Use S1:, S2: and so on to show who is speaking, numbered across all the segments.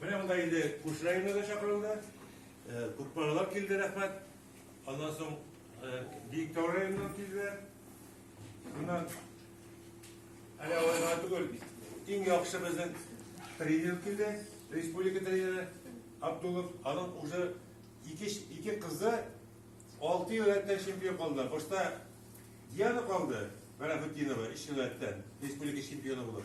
S1: Менә монда инде күрше районнар да чакырылды. Күп балалар килде, рәхмәт. Аннан соң Биектау районыннан килде. Моннан әле алайга түгел, иң яхшы безнең тренер килде, республика тренеры Абдулов. Аның уже ике, ике кызы алты ел рәттән чемпион калды. Башта Диана калды, Вәләхетдинова, өч ел рәттән республика чемпионы булып.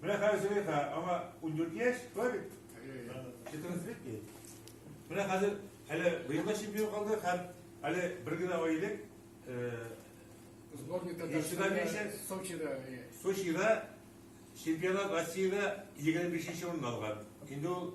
S1: Менә хәзер Зөләйха, аңа 14 яшь, шулай бит? 14 лет ки. Менә хәзер әле быел да чемпион калды һәм әле бер генә ай элек сборник Татарстанда Сочида Сочида чемпионат Россиядә 25 нче урын алган. Инде ул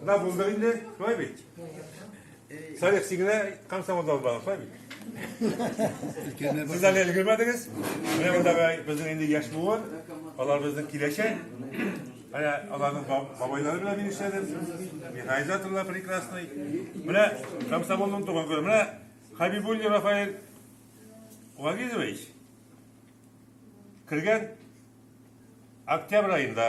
S1: Менә булды инде, шулай бит? Салих, син генә комсомолда булдың, шулай бит? Сез әле өлгермәдегез. Менә мондагы безнең инде яшь буын, алар безнең киләчәк. Менә аларның бабайлары белән мин эшләдем. Механизаторлар прекрасный. Менә комсомолның туган көне. Менә Хабибуллин Рафаэль Вагизович кергән октябрь айында